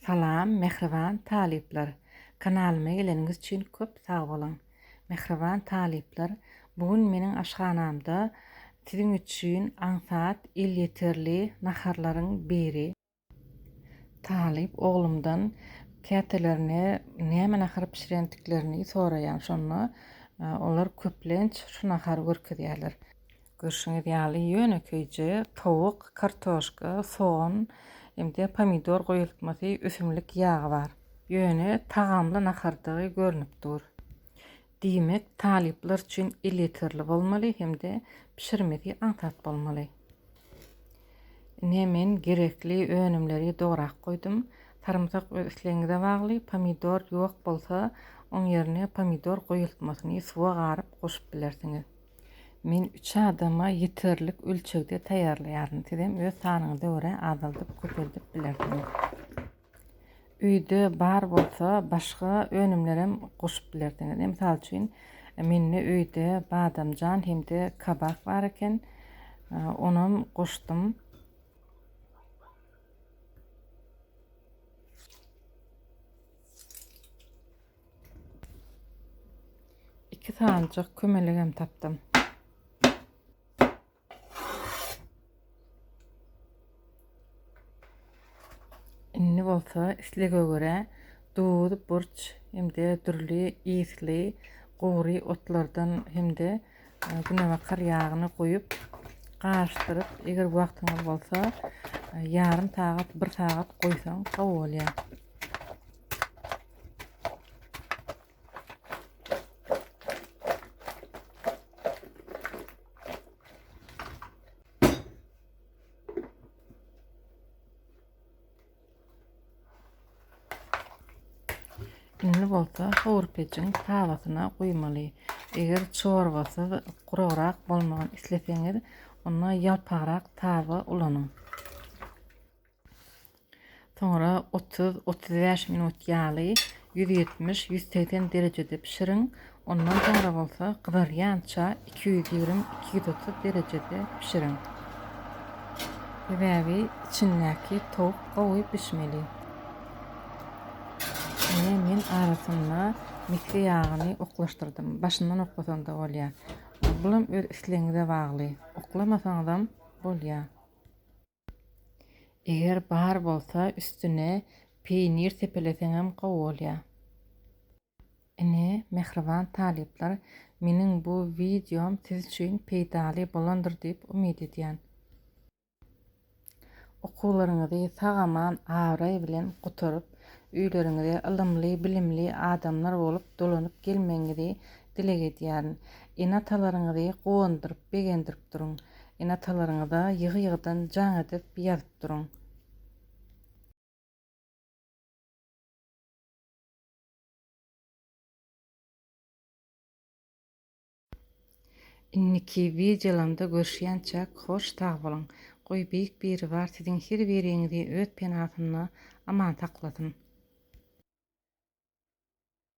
Salam mähriban talyplar kanalyma geleniňiz üçin köp sag boluň mähriban talyplar bu gün meniň aşhanamda siziň üçin aňsat elýeterli naharlaryň biri. Talyp oglumdan kätelerine näme nahar bişirendiklerini soraýan şonda olar köplenç şu nahary görkezýärler. Görşüňiz ýaly, ýönekeýje towuk, kartoşka, sogan hem-de pomidor goýultmasy, ösümlik ýagy bar. Ýöne tagamly nahardygy görnüp dur. Diýmek, talyplar üçin elýeterli bolmaly hem-de bişirmesi aňsat bolmaly. Ine, men gerekli önümleri dograp goýdum. Sarymsak öz islegiňize bagly, pomidor ýok bolsa, oň ýerine pomidor goýultmasyny suwa garyp goşup bilersiňiz. Men üç adama ýeterlik ölçegde taýýarlaýaryn. Sizem öz sanyňyza görä azaldyp-köpeldip bilersiňiz. Öýde bar bolsa, başga önümlerem goşup bilersiňiz. Mysal üçin, mende öýde badamjan hem-de kabak bar eken. Onam goşdum. Iki sanjak kömelegem tapdym. Indi bolsa islege göre duz, burç, hem-de dürli ýesli gury otlardan hem-de e, günebakar ýagyny goýup garyşdyryp, eger wagtyňyz bolsa, e, ýarym sagat, bir sagat goýsaň gowy bolýar. Indi bolsa howurpejiň tawasyna goýmaly. Eger çorbasy gurarak bolmagyny isleseňiz, onda ýalpagrak tawa ulanyň. Soňra otuz, otuz bäş minut ýaly ýüz ýetmiş, ýüz segsen derejede bişiriň. Ondan soňra bolsa gyzarýança iki ýüz ýigrimi, iki ýüz otuz derejede bişiriň. Sebäbi içindäki towuk gowy bişmeli. Ine men arasynda mikse ýagyny oklaşdyrdym. Başyndan oklasaň-da bolýar. Bulam öz islegiňize bagly. Oklamasaňyzam bolýar. Eger bar bolsa üstüne peýnir sepeleseňem gowy bolýar. Ine, mähriban talyplar, meniň bu wideom siz üçin peýdaly bolandyr diýip umyt edýän. Okuwlaryňyzy sag-aman, abraý bilen gutaryp, öýleriňize ylymly, bilimli adamlar bolup dolanyp gelmegiňizi Dileg edýärin, ene-atalaryňyzy guwandyryp, begendirip duruň. Ene-atalaryňyza ýygy-ýygydan jaň edip ýazyp duruň. Indiki wideolamda görüşýänçäk hoş sag boluň. Goý Beýik Biribar siziň her biriňizi öz penasynda aman saklasyn.